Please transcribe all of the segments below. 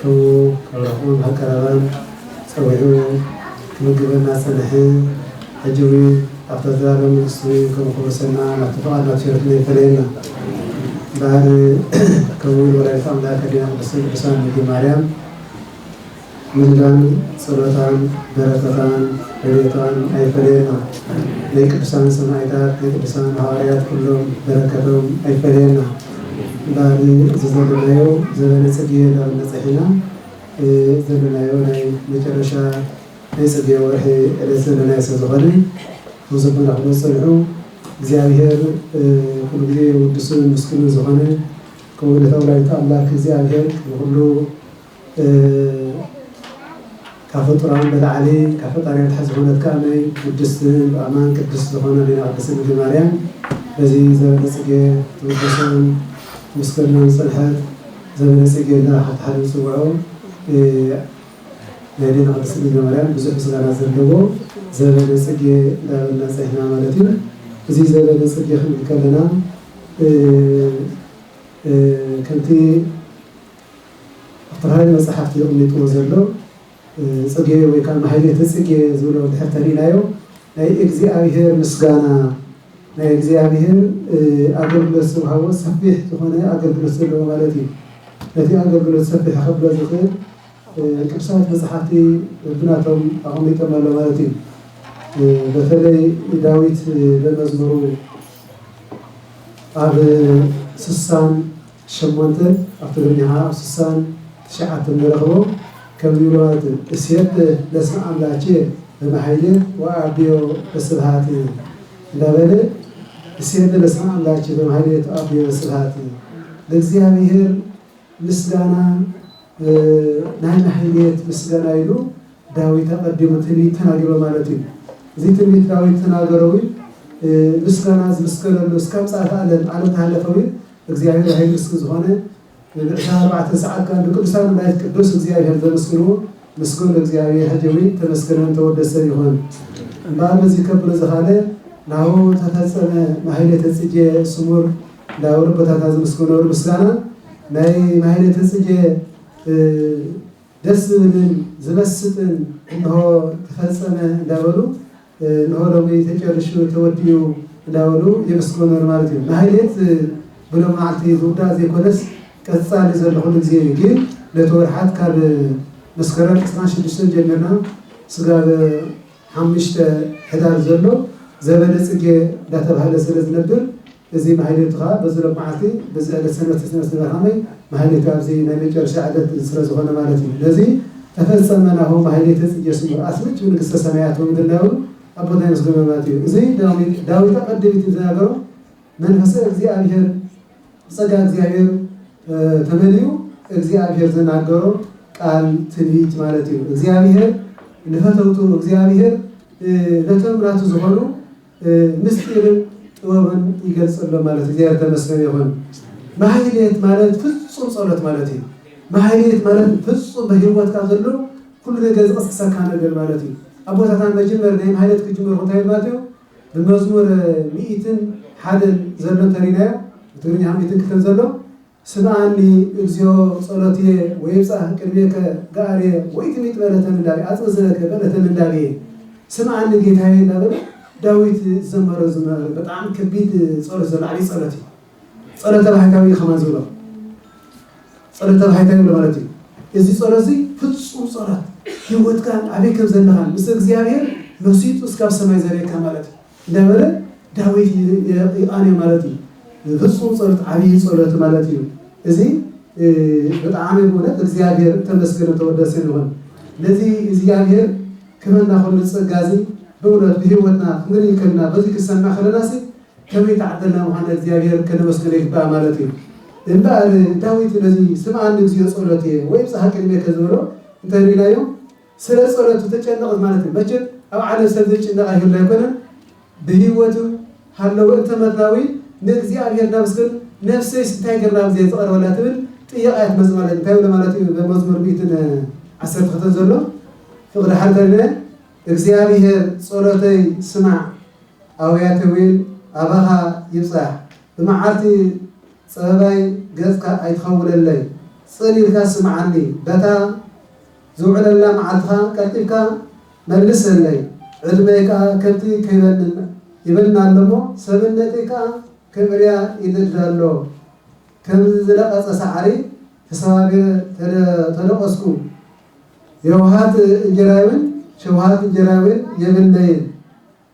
ክብሉ ካብ ዓቕሞም ኣቀራርባን ጸዊዑ ክምግበና ጸንሐ። ሕጂ እውን ኣብታ ዘላለም መንግስቱ ከም ከውርሰና ናቱ ፍቓድ ናቱ ቸርነት ኣይፈለየና እምበኣር ከምኡ እውን ወላዲት ኣምላክ ኣዴና ቅድስተ ቅዱሳን ድንግል ማርያም ምልዳን ጸሎታን በረከታን ረድኤታን ኣይፈለየና ናይ ቅዱሳን ሰማኢታት ናይ ቅዱሳን ሃዋርያት ኩሎም በረከቶም ኣይፈለየና። እምበኣር እዚ ዘሎናዮ ዘበነ ጽጌ ናብ እንበጽሕ ኢና። እዚ ዘሎናዮ ናይ መጨረሻ ናይ ጽጌ ወርሒ ዕለት ዘሎናዮ ስለ ዝኾነ ተወሰኹም እንዳበልኩም ዝጸንሑ እግዚኣብሄር ኩሉ ግዜ ውዱስን ምስጉንን ዝኾነ ከምኡ ዕለተ ወላዲተ ኣምላክ እግዚኣብሄር ንኹሉ ካብ ፍጡራን በላዕሊ ካብ ፈጣሪ ኣትሓት ዝኾነት ከኣ ናይ ቅድስት ብኣማን ቅድስት ዝኾነ ኣዴና ቅድስት ድንግል ማርያም በዚ ዘበለጽጌ ትውደሶን ትምስገኖን ዝጸንሐት ዘበለጽጌ ኢልና ሓንቲ ሓደ ንጽውዖ ናይ ኣዴና ቅድስት ድንግል ማርያም ብዙሕ ምስጋና ዘለዎ ዘበለጽጌ እንዳበልና ጸኒሕና ማለት እዩ። እዚ ዘበለጽጌ ክንብል ከለና ከምቲ ኣተራሪ መጻሕፍቲ የቕሚጥዎ ዘሎ ጽጌ ወይ ከኣ ማኅሌተ ጽጌ ዝብሎ እንድሕር ተሪእናዮ ናይ እግዚኣብሔር ምስጋና ናይ እግዚኣብሔር ኣገልግሎት ዝወሃቦ ሰፊሕ ዝኾነ ኣገልግሎት ዘለዎ ማለት እዩ። ነቲ ኣገልግሎት ሰፊሕ ከብሎ ዝኽእል ቅዱሳት መጻሕፍቲ ብናቶም ኣቐሚጦም ኣሎ ማለት እዩ። በተለይ ዳዊት በመዝሙሩ ኣብ ስሳን ሸሞንተ ኣብ ትግርኛኻ ኣብ ስሳን ትሽዓተን ንረኽቦ ከም ዝብሎ ማለት እስየተ ለስመ ኣምላኬ በበሃይለ ወኣቢዮ በስብሃት እንዳበለ እስየተ ለስመ ኣምላኬ በበሃይለ ትኣቢዮ በስብሃት ለእግዚኣብሔር ምስጋና ናይ ማሕሌት ምስጋና ኢሉ ዳዊት ኣቐዲሙ ትንቢት ተናጊሮ ማለት እዩ። እዚ ትንቢት ዳዊት ተናገሮ እውን ምስጋና ዝምስገነሉ እስካብ ምጽኣተ ዓለም ዓለም ተሃለፈ እውን እግዚኣብሔር ኃይል እስክ ዝኾነ ንብዕቲ ኣርባዕተ ሰዓት ካን ብቅዱሳን መላእክት ቅዱስ እግዚኣብሔር ዘመስግንዎ ምስጉን እግዚኣብሔር ሀጀዊ ተመስገነን ተወደሰን ይኹን እምበኣር በዚህ ከብሎ ዘኻለ ናሁ ተፈጸመ ማሕሌተ ጽጌ ስሙር ላውር ቦታታ ዝምስግኖር ምስጋና ናይ ማሕሌተ ጽጌ ደስ ዝብልን ዝመስጥን እንሆ ተፈጸመ እንዳበሉ እንሆ ሎሚ ተጨሪሹ ተወዲኡ እንዳበሉ የመስግኑ ማለት እዩ። ማህሌት ብሎም መዓልቲ ዝውዳእ ዘይኮነስ ቀፃሊ ዘሎ ኩሉ ግዜ እዩ። ግን ነቲ ወርሓት ካብ መስከረም ዕስራን ሽዱሽተን ጀሚርና ስጋብ ሓሙሽተ ሕዳር ዘሎ ዘበነ ፅጌ እንዳተብሃለ ስለዝነብር፣ እዚ ማህሌቱ ከኣ በዚ ሎማዓልቲ በዚ ዕለት ሰንበት ተሰንበት ዝነበረ ሃመይ ማህሌቱ ኣብዚ ናይ መጨረሻ ዕለት ስለ ዝኾነ ማለት እዩ ነዚ ተፈጸመ ናሁ ማህሌተ ጽጌ ስሙር ኣስምጭ ብንግስተ ሰማያት ወምድላዊ ኣቦና የመስግኖ ማለት እዩ እዚ ዳዊት ኣቀድሚት እዩ ዝናገሮ መንፈሰ እግዚኣብሔር ጸጋ እግዚኣብሔር ተመሊኡ እግዚኣብሔር ዝናገሮ ቃል ትንቢት ማለት እዩ እግዚኣብሔር ንፈተውቱ እግዚኣብሔር ነቶም ናቱ ዝኾኑ ምስጢርን ጥበብን ይገልጸሎም ማለት እግዚኣብሔር ተመስገን ይኹን። ማህሌት ማለት ፍጹም ጸሎት ማለት እዩ። ማህሌት ማለት ፍጹም በህይወትካ ዘሎ ኩሉ ነገር ዝቐስቅሰካ ነገር ማለት እዩ። ኣቦታትና መጀመር ናይ ማህሌት ክጅምሩ እንታይ ማለት እዩ? ብመዝሙር ሚኢትን ሓደን ዘሎ እንተሪናዮ ብትግርኛ ሚኢትን ክልተን ዘሎ ስምዓኒ እግዚኦ ጸሎትየ ወይብጻህ ቅድሜከ ገኣርየ ወኢትሚጥ በለተ ምንዳቤ ኣጽም ዝነከ በለተ ምንዳቤ ስምዓኒ ጌታየ እንዳበለ ዳዊት ዝዘመሮ ዝማረ ብጣዕሚ ከቢድ ጸሎት ዘሎ ዓብይ ጸሎት እዩ ጸሎተ ባሕታዊ እዩ ከማን ዝብሎ ጸሎተ ባሕታዊ ይብሎ ማለት እዩ እዚ ጸሎት እዚ ፍጹም ጸሎት ህይወትካን ኣበይ ከም ዘለኻን ምስ እግዚኣብሔር መሲጡ እስካብ ሰማይ ዘርእየካ ማለት እዩ ነበረ ዳዊት ይቃንዮ ማለት እዩ ፍጹም ጸሎት ዓብይ ጸሎት ማለት እዩ እዚ ብጣዕሚ ብእውነት እግዚኣብሔር ተመስገነ ተወደሰ ይኹን ነዚ እግዚኣብሔር ክበና ከሉ ጸጋ እዚ ብእውነት ብህይወትና ክንርኢ ከለና በዚ ክሰምዕ ከለና ሲ ከመይ ተዓደልና ምዃና እግዚኣብሔር ከነመስግነ ይግባእ ማለት እዩ እምበኣር ዳዊት ነዚ ስምዓኒ እግዚኦ ጸሎትየ ወይ ብጽሓ ቅድሜከ ዝበሎ እንተሪእናዮ ስለ ጸሎት ዝተጨነቐት ማለት እዩ መቸም ኣብ ዓለም ሰብ ዘይጭነቕ ኣይህሉ ኣይኮነን ብህይወቱ ሃለወ እንተ መትናዊ ንእግዚኣብሔር ናመስግን ነፍሰይስ እንታይ ገርና ብዘይ ዝቐርበላ ትብል ጥያቐ እያ ትመጽእ ማለት እንታይ ብሎ ማለት እዩ በመዝሙር ሚእትን ዓሰርተ ክልተን ዘሎ ፍቕሪ ሓልተነ እግዚኣብሔር ጸሎተይ ስማዕ ኣውያተ ዊን ኣባኻ ይብጻሕ ብመዓልቲ ጸበባይ ገጽካ ኣይትኸውለለይ ጽን ኢልካ ስምዓኒ በታ ዝውዕለላ መዓልትኻ ቀልጢፍካ መልሰለይ፣ ዕድመይ ከኣ ከምቲ ከይበንን ይበንን ኣሎ'ሞ፣ ሰብነተይ ከኣ ክእርያ ይደድድ ኣሎ። ከም ዝነቐጸ ሳዕሪ ተሰባቢረ ተደቖስኩ። የውሃት እንጀራይ'ውን ሸውሃት እንጀራይ'ውን የብለይን።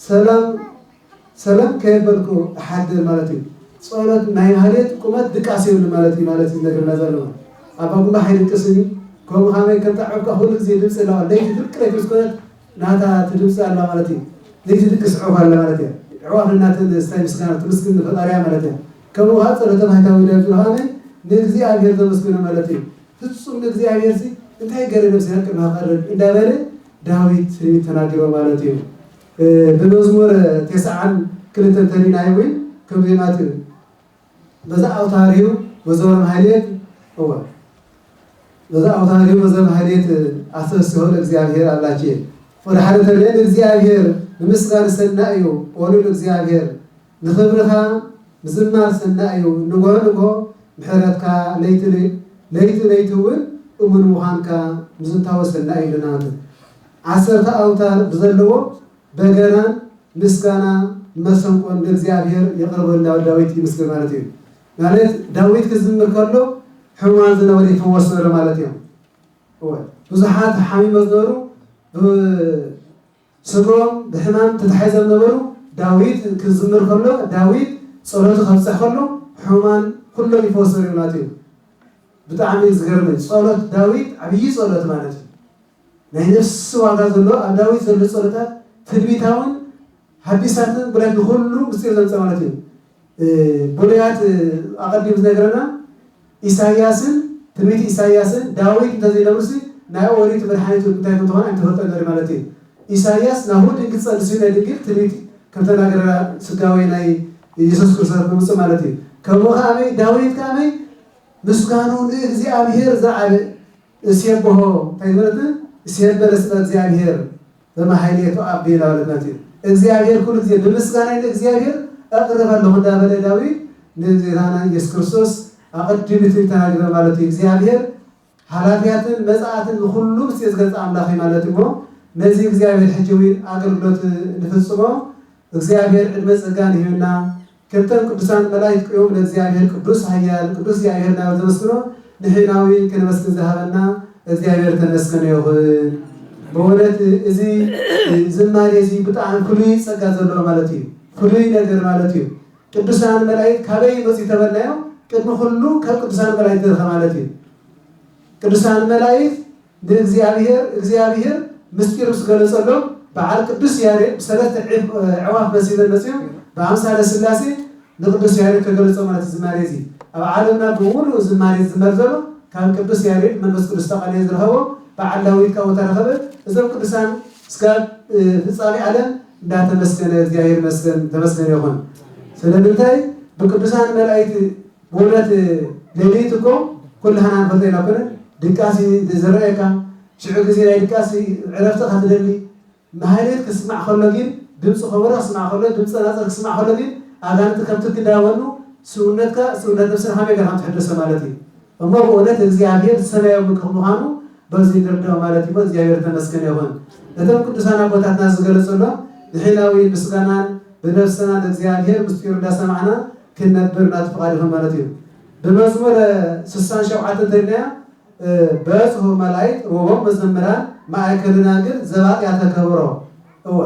ሰላም ሰላም ከየበልኩ እሓድር ማለት እዩ ጸሎት ናይ ማህሌት ቁመት ድቃስ የብሉ ማለት እዩ ማለት ዝነግርና ዘሎ ኣባ ጉባሕ ኣይድቅስን እዩ ከምኡ ከመይ ከም ጣዕብካ ኩሉ ግዜ ድምፂ ኣለዋ ለይቲ ፍርቂ ለይቲ ምስ ኮነት ናታ ትድምፂ ኣለዋ ማለት እዩ ዘይትድቅስ ዕሑፍ ኣለ ማለት እዩ ዕዋፍ እናተን ስታይ ምስጋና ትምስግን ንፈጣሪያ ማለት እዩ ከምኡ ከዓ ጸሎተ ባህታዊ ዳዊት ብርሃነ ንእግዚኣብሔር ዘመስግኖ ማለት እዩ ፍጹም ንእግዚኣብሔርሲ እንታይ ገረ ነፍሲ ሃቅና ኣቐርብ እንዳበለ ዳዊት ትንቢት ተናጊሮ ማለት እዩ። ብመዝሙር ቴስዓን ክልተን ተሪእናዮ እውን ከምዚ ማለት እዩ በዛ ኣውታር እዩ በዘወርም ሃይሌት እወ በዛ ኣውታር እዩ በዘወርም ሃይሌት ኣሰብስሆ ለእግዚኣብሔር ኣምላኬ ወደ ሓደ ተሪእን እግዚአብሔር ንምስጋን ሰናይ እዩ ወሉል እግዚአብሔር ንኽብርኻ ምዝማር ሰናይ እዩ ንግሆ ንግሆ ምሕረትካ ለይቲ ለይቲ ለይቲ እውን እሙን ምዃንካ ምዝንታወ ሰናይ እዩ ኢልና ን ዓሰርተ ኣውታር ብዘለዎ በገናን ምስጋና መሰንቆን ንእግዚኣብሔር የቕርበሉ ናብ ዳዊት ይምስግን ማለት እዩ ማለት ዳዊት ክዝምር ከሎ ሕሙማን ዝነበሩ ይፍወስ ነሩ ማለት እዮም እወ ብዙሓት ሓሚመ ዝነበሩ ስድርኦም ብሕማም ተታሒዞም ነበሩ። ዳዊት ክዝምር ከሎ ዳዊት ጸሎቱ ከብጽሕ ከሎ ሕሙማን ኩሎም ይፈወሱ ነይሮም ናትዮም ብጣዕሚ እዩ ዝገርመኝ ጸሎት ዳዊት ዓብዪ ጸሎት ማለት እዩ ናይ ነፍሲ ዋጋ ዘሎ ኣብ ዳዊት ዘሎ ጸሎታት ትንቢታውን ሐዲሳትን ብረት ንኹሉ ምስጢር ዘምጸ ማለት እዩ ብሉያት ኣቐዲም ዝነገረና ኢሳይያስን ትንቢት ኢሳይያስን ዳዊት እንተ ዘይነብሩሲ ናይ ኦሪት መድሓኒት እውን እንታይ ከም እትኾን ኣይምተፈልጠን ነሩ ማለት እዩ። ኢሳይያስ ናሁ ድንግል ትጸንስዩ ናይ ድንግል ትንቢት ከም ተናገረላ ሥጋዌ ናይ ኢየሱስ ክርስቶስ ክምጽእ ማለት እዩ። ከምኡ ከኣመይ ዳዊት ከኣመይ ምስጋንኡ ንእግዚኣብሔር ዘልዓለ እስየብሖ እንታይ ማለት እዩ እስየበለ ስመ እግዚኣብሔር በመኃይሌቱ ኣቤ እንዳበለት ማለት እዩ እግዚኣብሔር ኩሉ ጊዜ ብምስጋናይ ንእግዚኣብሔር እቅርብ ኣለኹ እንዳበለ ዳዊት ንጌታና ኢየሱስ ክርስቶስ ኣቐዲሙ ትንቢት ተናግረ ማለት እዩ እግዚኣብሔር ኃላፊያትን መጽኣትን ንኹሉ ምስ ዝገልጸ ኣምላኽ እዩ ማለት እሞ ነዚ እግዚኣብሔር ሕጂ እውን ኣገልግሎት ንፍጽሞ እግዚኣብሔር ዕድመ ጸጋን ይህብና ክልተን ቅዱሳን መላኢክት ቅዮም ለእግዚኣብሔር ቅዱስ ኃያል ቅዱስ እግዚኣብሔር እናበል ዘመስግኖ ንሕናዊ ከነመስግን ዝሃበና እግዚኣብሔር ተመስገነ ይኹን። በወነት እዚ ዝማሬ እዚ ብጣዕሚ ፍሉይ ጸጋ ዘለዎ ማለት እዩ። ፍሉይ ነገር ማለት እዩ። ቅዱሳን መላኢክት ካበይ ይመጽኡ ተበልናዮ ቅድሚ ኩሉ ካብ ቅዱሳን መላኢክት ንረኸ ማለት እዩ። ቅዱሳን መላኢክት ንእግዚኣብሄር እግዚኣብሄር ምስጢሩ ዝገለጸሎም በዓል ቅዱስ ያሬድ ብሰለስተ ዒፍ ኣዕዋፍ መሲለን መጺኦም ብኣምሳለ ሥላሴ ንቅዱስ ያሬድ ከገለጾ ማለት እዩ ዝማሬ እዚ ኣብ ዓለምና ብምሉኡ ዝማሬ ዝዝመር ዘሎ ካብ ቅዱስ ያሬድ መንፈስ ቅዱስ ተቀንዮ ዝረኸቦ በዓል ዳዊት ካብኡ ተረኸበ እዞም ቅዱሳን እስካብ ፍጻሜ ዓለም እንዳተመስገነ እግዚኣብሔር ይመስገን ተመስገነ ይኹን ስለምንታይ ብቅዱሳን መላእክት ውረድ ሌሊት እኮ ኩላህና ንፈልጦ ኢና እኮ ነን ድቃስ እዩ ዝረኣየካ ሽዑ ግዜ ናይ ድቃስ እዩ ዕረፍቲ እካ ትደሊ ማህሌት ክስማዕ ከሎ ጊን ድምጺ ኮቦሮ ክስማዕ ከሎ ድምጺ ጸናጽል ክስማዕ ከሎ ጊን ኣጋንንቲ ከም ትኪ ዳበኑ ስውነትካ ስውነት ነብስና ከመይ ገርካ ትሕደሶ ማለት እዩ እሞ ብእውነት እግዚኣብሄር ሰማያዊ ምክ ምዃኑ በዚ ንርዳኦ ማለት እዩ እሞ እግዚኣብሄር እተመስገነ ይኹን እቶም ቅዱሳን ኣቦታትና ዝገለጽሎም ንሕናዊ ምስጋናን ብነብስና ንእግዚኣብሄር ምስጢሩ እንዳሰማዕና ኪነብር ናቲ ፍቓድኺ ማለት እዩ። ብመዝሙር ስሳን ሸውዓተን እንተሪናያ በጽሑ መላይት ርቦም መዘምራን ማእከል ደናግል ዘባጥያ ተከብሮ እወ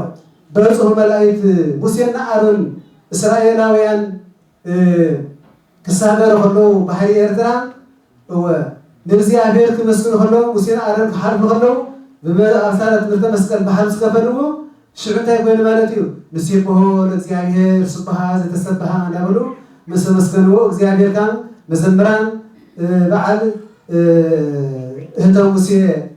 በጽሑ መላይት ሙሴና ኣሮን እስራኤላውያን ክሳገሩ ከለዉ ባሕሪ ኤርትራ እወ፣ ንእግዚኣብሔር ኪመስግኑ ኸለዉ፣ ሙሴን ኣሮንን ኪሓልፉ ኸለዉ፣ ብኣምሳለ ትምህርተ መስቀል ብሓልፍ ዝከፈልዎ፣ ሽዑ እንታይ ኮይኑ ማለት እዩ? ንሴብሖ ለእግዚኣብሔር ስቡሓ ዘተሰብሓ እንዳበሉ ምስ ኣመስገንዎ፣ እግዚኣብሔር ካም መዘምራን በዓል እህተ ሙሴ፣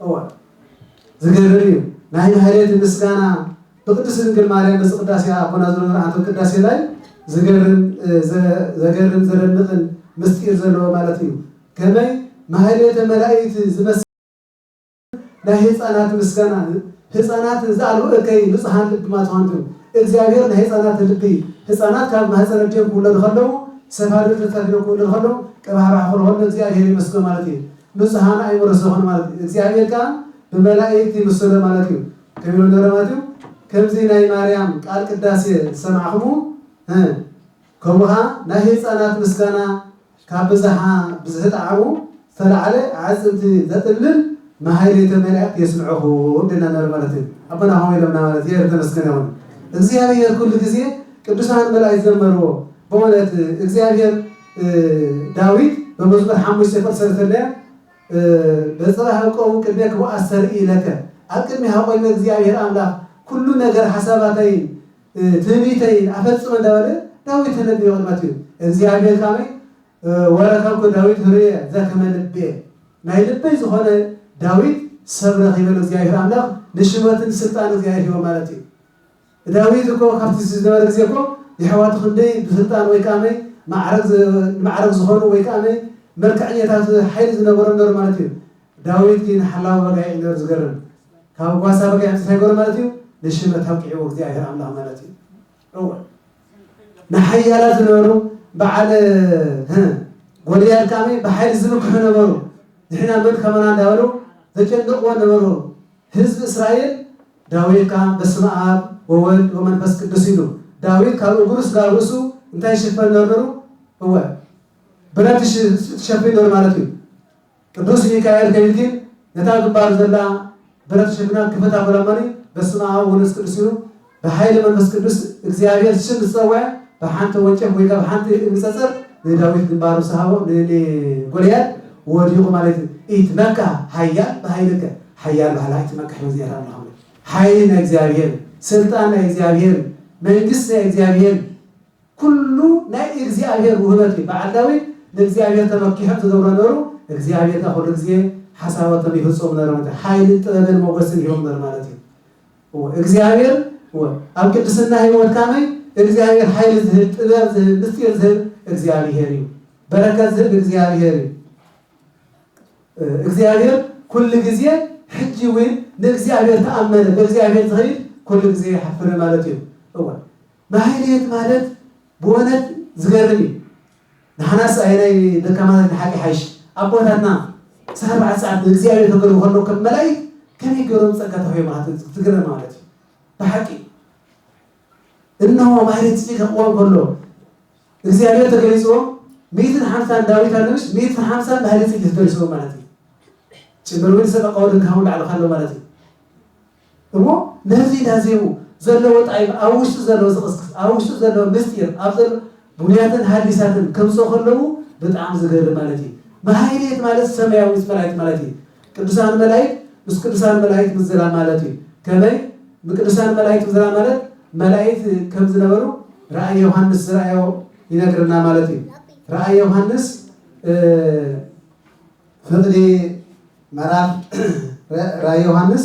እወ ዝገርም እዩ ናይ ማህሌት ምስጋና ብቅድስት ድንግል ማርያም በዚ ቅዳሴ ኣቦና ዘሮ ዘርዓንቶት ቅዳሴ ላይ ዝገርም ዘገርም ዘደንቅን ምስጢር ዘለዎ ማለት እዩ ከመይ ማህሌተ መላእክት ዝመስ ናይ ህፃናት ምስጋና ህፃናት ዛዕሉ እከይ ንፁሃን ልቢ ማትዋንቱ እግዚኣብሔር ናይ ህፃናት ልቢ ህፃናት ካብ ማህፀነ ጀም ክውለዱ ከለዉ ሰፋድር ተተፊኖ ክውለዱ ከለዉ ቀባሕባሕ ክልሆሎ እግዚኣብሔር ይመስገ ማለት እዩ ንጹሃና እዩ ምረት ዝኮኑ ማለት እዩ እግዚኣብሔር ከኣ ብመላኢክት ይምስሎ ማለት እዩ ከቢሎም ደብረ ማቲው ከምዚ ናይ ማርያም ቃል ቅዳሴ ዝሰማዕክሙ ህ ከምኡ ከኣ ናይ ህጻናት ምስጋና ካብ ብዝሓ ብዝሒ ጣዕሙ ዝተላዕለ ኣዕጽምቲ ዘጥልል ማህሌተ መላኢክት የስምዕኩም ደና ነብረ ማለት እዩ ኣቦና ከምኡ ኢሎምና ማለት እግዚኣብሔር ተመስገነ ይኩን እግዚኣብሔር ኩሉ ግዜ ቅዱሳን መላኢክት ዘመርዎ በእውነት እግዚኣብሔር ዳዊት በመዝሙር ሓሙሽተ ቁር ሰለስተ እንድያ በጽባሕ እቀውም ቅድሜከ ወኣስተርኢ ለከ ኣብ ቅድሜኻ ቆይመ እግዚኣብሔር ኣምላኽ ኩሉ ነገር ሓሳባተይን ትዕቢተይን ኣፈጽመ እንዳበለ ዳዊት ተነብዮ ቅድመ ኣትዩ እግዚኣብሔር ካመይ ወረከብኩ ዳዊት ህሩየ ዘከመ ልቤ ናይ ልበይ ዝኾነ ዳዊት ሰብ ረኺበ ንእግዚኣብሔር ኣምላኽ ንሽመትን ስልጣን እግዚኣብሔር ሂቦ ማለት እዩ። ዳዊት እኮ ካብቲ ዝነበረ ግዜ እኮ የሕዋቱ ክንደይ ብስልጣን ወይ ከኣ መይ ማዕርግ ንማዕርግ ዝኾኑ ወይ ከኣ መይ መልክዐኛታት ሓይሊ ዝነበሮም ነሩ ማለት እዩ ዳዊት ግን ሓላዊ በጋይዕ እዩ ነሩ ዝገርም ካብ ጓሳ በጋይዕ ምጽ ታይ ገሩ ማለት እዩ ንሽመት ኣብቂዕዎ እግዚኣብሔር ኣምላኽ ማለት እዩ እወ ንሓያላት ዝነበሩ በዓል ህ ጎልያድ ከኣ መይ ብሓይሊ ዝምክሑ ነበሩ ንሕና መን ከማና እንዳበሉ ዘጨንቕዎ ነበሩ ህዝቢ እስራኤል ዳዊት ከኣ በስመ ኣብ ወወልድ ወመንፈስ ቅዱስ ኢሉ ዳዊት ካብ እግሩ ስጋብ ርእሱ እንታይ ይሽፈን ነሩ ነሩ እወ ብረት ትሸፊን ነሩ ማለት እዩ ቅዱስ ሚካኤል ከይልጊን ነታ ግንባሩ ዘላ ብረት ትሸፊና ክፍት ኣበሎ እሞኒ በስመ ኣብ ወወልድ ወመንፈስ ቅዱስ ኢሉ ብሓይሊ መንፈስ ቅዱስ እግዚኣብሔር ሽም ምስ ጸወዐ ብሓንቲ ወንጨፍ ወይ ከኣ ብሓንቲ እምኒ ጸጸር ንዳዊት ግንባሩ ምስ ሃቦ ንጎልያድ ወዲቁ ማለት እዩ ኢትመካህ ኃያል በኃይልከ ሓያል በሃላይ እቲ መካሕቦ እግዚኣብሔር ኣምላክ እምበር ሓይሊ ናይ እግዚኣብሔር ስልጣን ናይ እግዚኣብሔር መንግስት ናይ እግዚኣብሔር ኩሉ ናይ እግዚኣብሔር ውህበት እዩ በዓል ዳዊት ንእግዚኣብሔር ተመኪሑ ዝገብሮ ነሩ እግዚኣብሔር ከ ኩሉ ግዜ ሓሳባቶም ይፍጽሙ ነሩ ማለት ሓይልን ጥበብን ሞገስን ሂቦም ነሩ ማለት እዩ እወ እግዚኣብሔር እወ ኣብ ቅድስና ህይወት ካመይ እግዚኣብሔር ሓይሊ ዝህብ ጥበብ ዝህብ ምስጢር ዝህብ እግዚኣብሔር እዩ በረከት ዝህብ እግዚኣብሔር እዩ እግዚኣብሔር ኩሉ ግዜ ሕጂ ዊን ንእግዚኣብሔር ተኣመነ በእግዚኣብሔር ዝኸይድ ኩሉ ግዜ ኣይሓፍርን ማለት እዩ እወ ማህሌት ማለት ብወነት ዝገርም እዩ ንሓናስ ኣየናይ ደካማታት ንሓቂ ይሓይሽ ኣቦታትና ዕስራን ኣርባዕተን ሰዓት ንእግዚኣብሔር ከገልጉ ከለዉ ከም መላእክት ከመይ ገይሮም ጸጋ ተዋሂቦም ትግረም ማለት እዩ ብሓቂ እነሆ ማህሌት ጽፊ ከቕዋም ከሎ እግዚኣብሔር ተገሊጽዎም ሚእትን ሓምሳን ዳዊት ኣሎምሽ ሚእትን ሓምሳን ማህሌት ጽጌ ተገሊጽዎም ማለት እዩ ጭምር ዊን ሰቀ ቀወድን ካሁን ላዕሉ ካሎ ማለት እዩ እሞ ነዚ እንዳዜሙ ዘለዎ ጣይም ኣብ ውሽጡ ዘለዎ ዝቕስቅስ ኣብ ውሽጡ ዘለዎ ምስጢር ኣብ ዘሎ ብሉያትን ሐዲሳትን ከምጽኦ ከለዉ ብጣዕሚ ዝገርም ማለት እዩ ማህሌት ማለት ሰማያዊት መላእክት ማለት እዩ ቅድሳን መላኢት ምስ ቅድሳን መላኢት ምዝራብ ማለት እዩ ከመይ ምቅድሳን መላኢት ምዝራብ ማለት መላኢት ከም ዝነበሩ ራእይ ዮሐንስ ዝረኣዮ ይነግረና ማለት እዩ ራእይ ዮሐንስ ፍቅዲ መራፍ ራእይ ዮሐንስ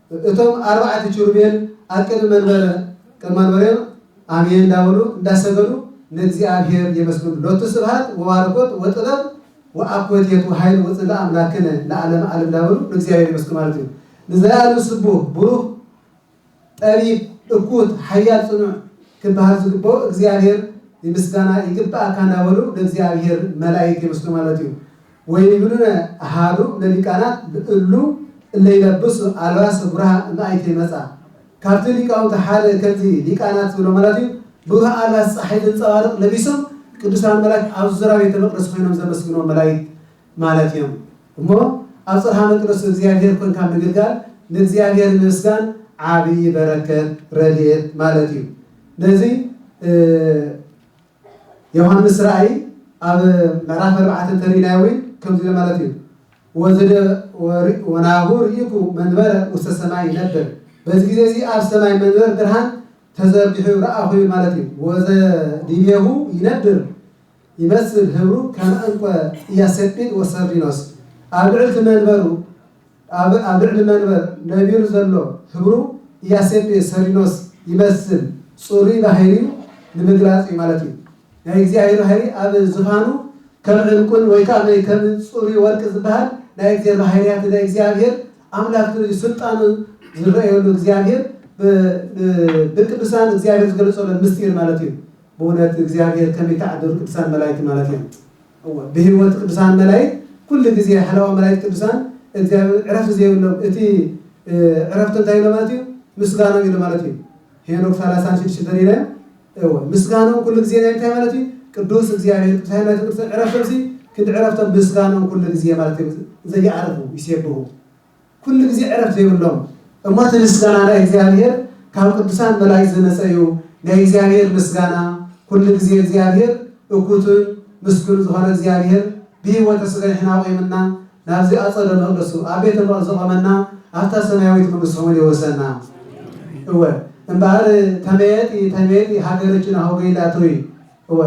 እቶም ኣርባዕቲ ኪሩቤል ኣብ ቅድሚ መንበረ ቅድሚ መንበሬም ኣሜን እንዳበሉ እንዳሰገዱ ንእግዚኣብሔር የመስግኑ ሎቱ ስብሃት ወባርኮት ወጥበብ ወኣኮቴት ወኃይል ወጽድቅ ኣምላክነ ለዓለመ ዓለም እንዳበሉ ንእግዚኣብሔር የመስግኑ ማለት እዩ። ንዘለዓለም ስቡህ ቡሩክ ጠቢብ እኩት ሓያል ጽኑዕ ክበሃል ዝግበኦ እግዚኣብሔር ምስጋና ይግበኣካ እንዳበሉ ንእግዚኣብሔር መላኢክት የመስግኑ ማለት እዩ። ወይብሉነ አሐዱ እምለሊቃናት እሉ እለ ይለብሱ አልባሰ ብሩሃ እምአይቴ መጽአ፣ ካብቲ ሊቃውንቲ ሓደ ከምዚ ሊቃናት ዝብሎ ማለት እዩ ብሩህ ኣልባስ ጸሓይ ዘንጸባርቕ ለቢሶም ቅዱሳን መላእክት ኣብ ዙራ ቤተ መቅደስ ኮይኖም ዘመስግኖም መላእክት ማለት እዮም እሞ ኣብ ጽርሃ መቅደሱ እግዚኣብሔር ኮንካ ምግልጋል ንእግዚኣብሔር ምምስጋን ዓብዪ በረከት ረድኤት ማለት እዩ ነዚ ዮሃንስ ራእይ ኣብ ምዕራፍ ኣርባዕተ እንተርኢናዮ እውን ከምዚ ኢሎ ማለት እዩ ወዘደ ወናሁ ርኢኩ መንበረ ውስተ ሰማይ ይነብር በዚ ግዜ እዚ ኣብ ሰማይ መንበር ብርሃን ተዘርጊሑ ረኣኹ ይብል ማለት እዩ ወዘ ዲቤሁ ይነብር ይመስል ህብሩ ከመ እንቆ ኢያሰጲድ ወሰርዲኖስ ኣብ ልዕልቲ መንበሩ ኣብ ኣብ ልዕሊ መንበር ነቢሩ ዘሎ ህብሩ ኢያሴፔ ሰሊኖስ ይመስል ጽሩይ ባሂሪኡ ንምግላጽ እዩ ማለት እዩ። ናይ እግዚኣብሔር ባሂሪ ኣብ ዝፋኑ ከም ዕንቁን ወይ ከኣ ናይ ከም ጽሩይ ወርቂ ዝበሃል ናይ እግዚሔር ባሂሪያት ናይ እግዚኣብሔር ኣምላክ እዩ ስልጣኑ ዝረእየሉ እግዚኣብሔር ብ ብ ብቅዱሳን እግዚኣብሔር ዝገለጸሎን ምስጢር ማለት እዩ። ብእውነት እግዚኣብሔር ከመይ ተዓደሉ ቅዱሳን መላእክት ማለት እዮም። እወ ብህይወት ቅዱሳን መላይክት ኩሉ ግዜ ሃለዋ መላይክት ቅዱሳን እግዚኣብሔር ዕረፍቲ ዘይብሎም እቲ ዕረፍቲ እንታይ ኢሎ ማለት እዩ ምስጋኖም ኢሎ ማለት እዩ ሄኖክ ሰላሳን ሽድሽተ ተሪናዮ እወ ምስጋኖም ኩሉ ግዜ ናይ እንታይ ማለት እዩ ቅዱስ እግዚኣብሔር ቅዱሳን መላእክት ቅዱሳን ዕረፍቶም ሲ ክንዲ ዕረፍቶም ምስጋኖም ኩሉ ግዜ ማለት እዩ ዘየዕርፉ ይሴብሁ ኩሉ ግዜ ዕረፍት ዘይብሎም እሞ እቲ ምስጋና ናይ እግዚኣብሔር ካብ ቅዱሳን መላእክት ዝመጸ እዩ ናይ እግዚኣብሔር ምስጋና ኩሉ ግዜ እግዚኣብሔር እኩቱን ምስጉን ዝኮነ እግዚኣብሔር ብህይወተ ስጋ ንሕና ኣቁምና ናብዚ ኣጸደ መቅደሱ ኣብ ቤተ መቅደስ ዘቆመና ኣብታ ሰማያዊት መንግስት ሰሙን የውርሰና እወ እምበኣር ተመየጢ ተመየጢ ሃገርችን ኣሁገ ኢላቶይ እወ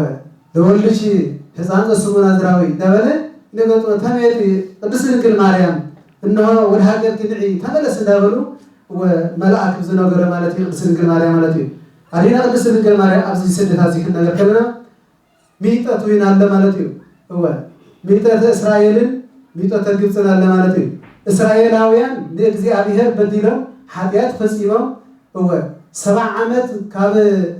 ዘወልድኪ ሕፃን ዘስሙ ናዝራዊ እንዳበለ ይነገጥዎ ተመየጢ ቅድስት ድንግል ማርያም እንሆ ወደ ሃገርኪ ንዒ ተመለሲ እንዳበሉ እወ መልኣክ ብዝነገሮ ማለት እዩ ቅድስት ድንግል ማርያም ማለት እዩ ኣዴና ቅድስት ድንግል ማርያም ኣብዚ ስደት ኣብዚ ክንነገር ከለና ሚጠት ዊን ኣለ ማለት እዩ እወ ሚጠት እስራኤልን ሚጠት ግብፅን ኣለ ማለት እዩ እስራኤላውያን ንእግዚኣብሔር በዲሎም ሓጢኣት ፈፂሞም እወ፣ ሰብዓ ዓመት ካብ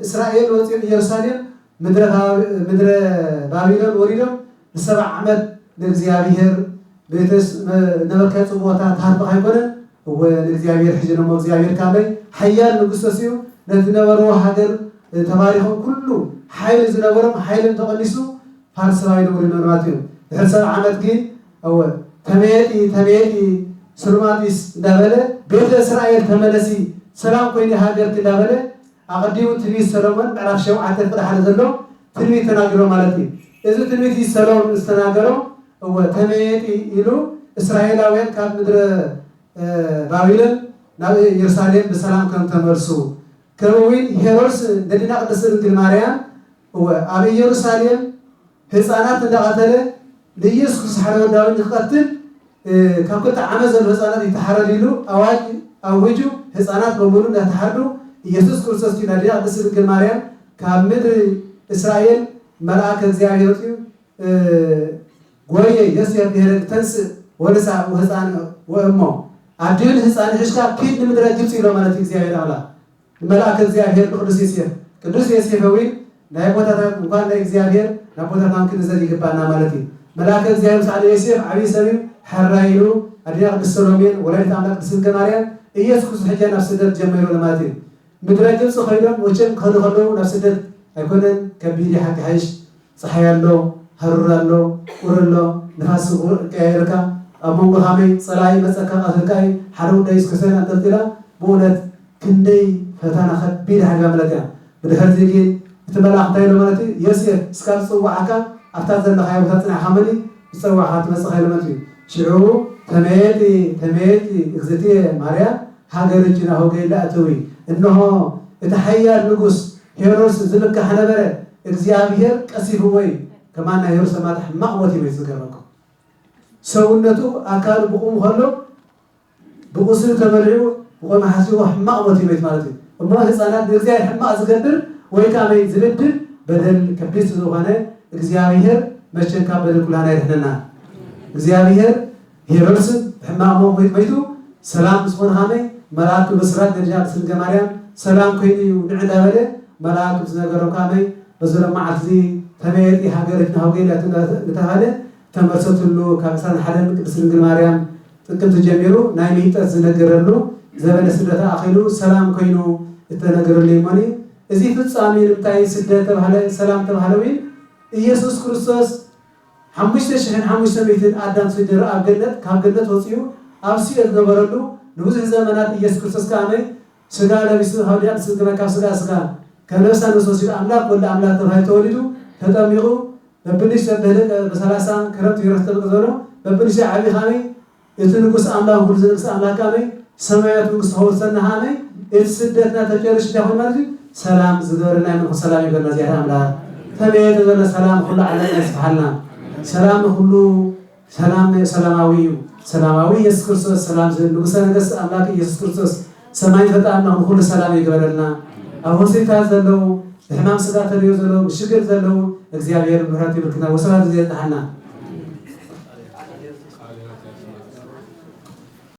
እስራኤል ወጺኦም ኢየሩሳሌም ምድረ ባቢሎን ወሪዶም ንሰብዓ ዓመት ንእግዚኣብሔር ቤተስ ነበከ ጽብኦታ ተሃርብኽ ኣይኮነን እወ ንእግዚኣብሔር ሕጂ ነሞ እግዚኣብሔር ካመይ ሓያል ንጉስ ተሲኡ ነቲ ነበርዎ ሃገር ተባሪኾም ኩሉ ሓይሊ ዝነበሮም ሓይሎም ተቐኒሱ ፋርስባይ ንብሪ ምንባትዮ ድሕሪ ሰብዓ ዓመት ግን እወ ተመየጢ ተመየጢ ሱልማጢስ እንዳበለ ቤተ እስራኤል ተመለሲ ሰላም ኮይኒ ሃገርኪ እንዳበለ ኣቀዲሙ ትንቢት ሰሎሞን ምዕራፍ ሸውዓተ ፍቅዲ ሓደ ዘሎ ትንቢት ተናጊሮ ማለት እዩ እዚ ትንቢት እዚ ሰሎምን ዝተናገሮ እወ ተመየጢ ኢሉ እስራኤላውያን ካብ ምድረ ባቢሎን ናብ ኢየሩሳሌም ብሰላም ከም ተመልሱ ከምኡ ዊን ሄሮድስ ንደዲና ቅድስት ድንግል ማርያም እወ ኣብ ኢየሩሳሌም ህጻናት እንዳቀተለ ንኢየሱስ ክሳሕሎ ወዲ ኣበይ ንክቀትል ካብ ክልተ ዓመት ዘሎ ህጻናት ይተሓረድ ኢሉ ኣዋጅ ኣዊጁ ህጻናት በሙሉ እንዳተሓርዱ ኢየሱስ ክርስቶስ ግን ኣዴና ቅድስቲ ድንግል ማርያም ካብ ምድሪ እስራኤል መልኣከ እግዚኣብሔር ወጽዩ ጎየ የሱየ ብሔረግ ተንስእ ወንሳ ወህፃን ወእሞ ኣዴን ህፃን ሕሽካ ኪድ ንምድረ ግብፂ ኢሎ ማለት እዩ እግዚኣብሔር ኣምላክ ንመልኣከ እግዚኣብሔር ንቅዱስ ዬሴፍ ቅዱስ ዬሴፈ ዊን ናይ ኣቦታታን እንኳን ናይ እግዚኣብሔር ንኣቦታትናም ክንዘል ይግባና ማለት እዩ መልኣከ እግዚኣብሔር ምሳዕ ንዬሴፍ ዓብይ ሰብ እዩ ሐራይ እዩ ኣዴና ቅድስት ሰሎሜን ወላዲት ኣምላክ ቅድስት ድንግል ማርያም እየሱስ ክሱስ ሕጃ ናብ ስደት ጀመይሩ ለማለት እዩ ምድረ ግብፂ ከይዶም ወቸም ክኸዱ ከለዉ ናብ ስደት ኣይኮነን ከቢድ እዩ ሓቂ ሐይሽ ጸሓይ ኣሎ፣ ሃሩር ኣሎ፣ ቁሪ ኣሎ፣ ንፋስ ስግኡ እቀያየረካ፣ ኣብ መንጎ ኻመይ ጸላኢ ይመጸካ ቀትርካ እዩ፣ ሓደ ጉዳይ እዩስ ክሰን ኣንጠልጢላ፣ ብኡነት ክንደይ ፈተና ከቢድ ሓሊፋ ማለት እያ፣ ብድሕርዚ ግን እቲ መልኣኽ እንታይ ኢሎ ማለት እዩ፣ ዮሴፍ እስካ ዝጽዋዓካ ኣብታ ዘለኻዮ ቦታ ጽንዕካ መን እዩ ዝጸዋዕካ ትመጽእ ኸይሎ መት እዩ፣ ሽዑ ተመየጢ ተመየጢ እግዝእትየ ማርያም፣ ሃገርኪ ናብ ሆገይላ እተዊ፣ እንሆ፣ እቲ ሓያል ንጉስ ሄሮድስ ዝምካሕ ነበረ፣ እግዚኣብሄር ቀሲፍዎ እዩ፣ ከማን ናይ ሄሮድስ ኣማታ ሕማቕ ሞት እዩ መይቱ ዝገረኩም። ሰውነቱ ኣካሉ ብቑሙ ከሎ ብቑስሊ ተበሊዑ ቆመ ሓሲዎ ሕማቕ ሞት እዩ መይቱ ማለት እዩ። እሞ ህጻናት ንእግዚኣብሄር ሕማቕ ዝገብር ወይ ከኣ መይ ዝብድል በደል ከቢድ ስዝኾነ እግዚኣብሄር መቸን ካብ በደል ኩላህና የድሕነና። እግዚኣብሄር ሄሮድስን ብሕማቕ ሞቕሚጥ መይቱ ሰላም ምስ ኮነ ኸመይ መልኣክ ክብስራት ነቢያት ምስ ድንገ ማርያም ሰላም ኮይኑ እዩ ንዕ እንዳ በለ መልኣክ ምስ ነገሮም ካመይ በዚ ሎም መዓልቲ እዚ ከመይ የርኢ ሃገርች ናሁ ገይለት እንዳ ተብሃለ እተመልሰትሉ ካብ ዕስራን ሓደን ቅድስት ድንግል ማርያም ጥቅምቲ ጀሚሩ ናይ ምይጠት ዝነገረሉ ዘበነ ስደታ ኣኺሉ ሰላም ኮይኑ እተነገረሉ የሞን እዩ እዚ ፍጻሜ ንምታይ ስደት ተብሃለ ሰላም ተብሃለ ዊን እየሱስ ክርስቶስ ሓሙሽተ ሽሕን ሓሙሽተ ሚእትን ኣዳም ስድር ኣብ ገነት ካብ ገነት ወጺኡ ኣብ ሲኦል ዝነበረሉ ንብዙሕ ዘመናት ኢየሱስ ክርስቶስ ከኣ መይ ስጋ ለቢሱ ካብ ድያ ንስስ ግና ካብ ስጋ ስጋ ከም ነፍሳ ነፍስ ወሲዱ ኣምላኽ ወልድ ኣምላኽ ተባሂሉ ተወሊዱ ተጠሚቑ በብንሽ በብህልቅ በሰላሳ ክረምት ዮርዳኖስ ተጠምቀ ዝበሎ በብንሽ ዓቢ ከኣ መይ እቲ ንጉስ ኣምላክ ኩሉ ዝነግስ ኣምላክ ኣመይ ሰማያት መንግስቱ ከውርሰና ኣመይ እቲ ስደትና ተጨርሽ እንታይ ኮይኑ ማለት እዩ ሰላም ዝገበረልና ይመንኩ ሰላም ይግበረልና እዚኣተ ኣምላክ ተመየ ተዘለ ሰላም ኩሉ ዓለምና ይስፍሓልና ሰላም ንኩሉ ሰላም ሰላማዊ እዩ ሰላማዊ ኢየሱስ ክርስቶስ ሰላም ንጉሰ ነገስት ኣምላክ ኢየሱስ ክርስቶስ ሰማይ ፈጣርና ንኩሉ ሰላም ይግበረልና ኣብ ሆስፒታል ዘለዉ ብሕማም ስጋ ተሪዮ ዘለዉ ብሽግር ዘለዉ እግዚኣብሔር ምሕረቱ ይብርክትና ወስብሃት ግዚኣብጽሓና።